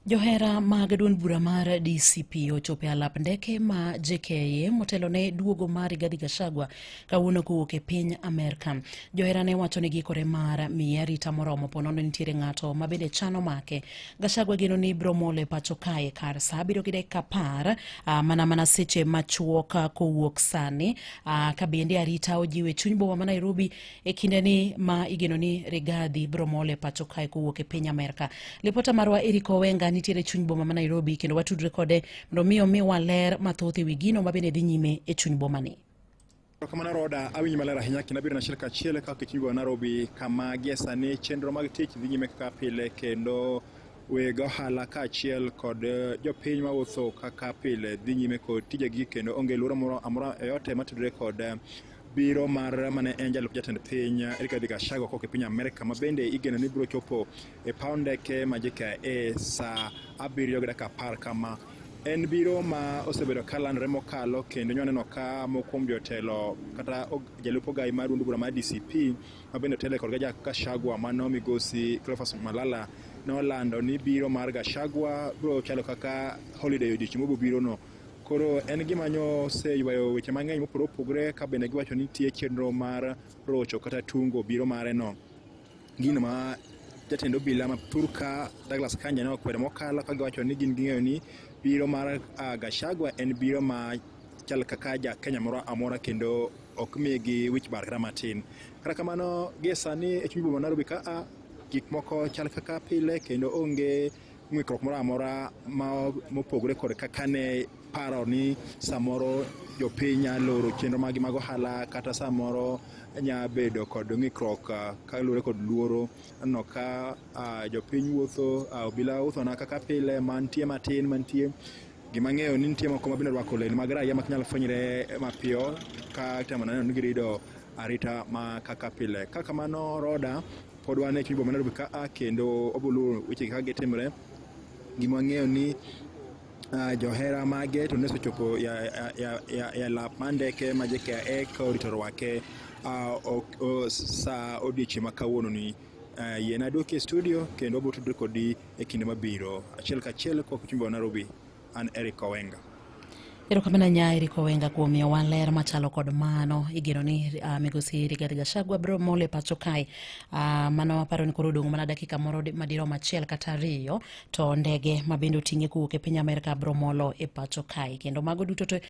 Johera mag duond bura mar DCP ochopo e alap ndeke ma JKIA motelo ne duogo mar Rigathi Gachagua kawuono kowuok e piny Amerka. Johera ne wacho ni giikore mar miye arita moromo po nono nitiere ng'ato ma bende chano make. Gachagua geno ni biro mole pacho kae kar sa abiriyo gi dakika apar ah, mana mana seche machuok ah, kowuok sani ah, ka bende arita ojiwe chuny boma ma Nairobi e kindeni ma igeno ni Rigathi biro mol e pacho kae kowuok e piny Amerka. Lipota marwa Eric Owenga nitiere chuny boma ma Nairobi kendo watudre kode mondo mi omiwa ler mathoth e wi gino ma bende dhi nyime e chuny bomani. Kamano Roda, awinji maler ahinya kendo abiro nachiel kachiel ka kichungo Nairobi kama gie sani chenro mag tich dhi nyime kaka pile kendo weg ohala kaachiel kod eh, jopiny mawuotho kaka pile dhi nyime kod tijegi kendo onge luoro moro amora yote matudore kod eh, biro mar mane en jalup jatend piny Rigathi Gachagua kok e piny Amerka ma bende igeno ni biro chopo e paw ndeke ma JKIA sa abiriyo gi dakika apar kama en biro ma osebedo ka landore mokalo kendo nyo ka moko kuom jotelo kata jalup ogai mar duond bura mar DCP ma bende otele kodga ja Gachagua mano migosi Cleophas Malala nolando ni biro mar Gachagua biro chalo kaka holiday odiochieng' mobiro no Koro en gima nyo oseywayo weche mang'eny mopogore opogore ka bende giwacho ni nitie chenro mar rocho kata tungo biro mare no. Gino ma jatend obila ma Turka Douglas Kanja ne okwedo mokalo ka giwacho ni gin ging'eyo ni biro mar uh, Gachagua en biro ma chal kaka ja Kenya moro amora kendo ok migi wich bar kata matin. Kata kamano gie sani e chuny boma Nairobi ka a gik moko chal kaka pile kendo onge ng'ikruok moro amora mopogore kod kaka ne paro ni samoro jopiny nya loro chenro magi mag ohala kata samoro nya bedo kod ng'ikruok ah, kaluwore kod luoro no ka ah, jopiny wuotho ah, obila uthona kaka pile mantie matin mantie gima ng'eyo ni nitie moko mabende rwako lewni mag raia mak nyalo fwenyre mapiyo ka temo neno ni girido arita ma kaka pile ka kamano roda Pod wan e chuny boma Nairobi ka a kendo obulu weche kaka gitimre. Gima wang'eyo ni ah, johera mage to nosechopo ya, ya, ya, ya, ya lap mar ndeke ma JKIA ka orito rwake ah, ok- o- sa odiechieng' ma kawuononi. Ah, Yien aduoki e studio kendo abotudre kodi e kinde mabiro. Achiel kachiel kok chuny boma Nairobi. An Eric Owenga. Erokamano nya Eric Owenga kuom miyowa ler machalo kod mano. Igeno ni uh, migosi Rigathi Gachagua biro mole pacho kae. Uh, mano aparo ni koro odong' mana dakika moro madirom achiel kata ariyo to ndege ma bende oting'e kowuok e piny Amerka biro molo e pacho kae kendo mago duto to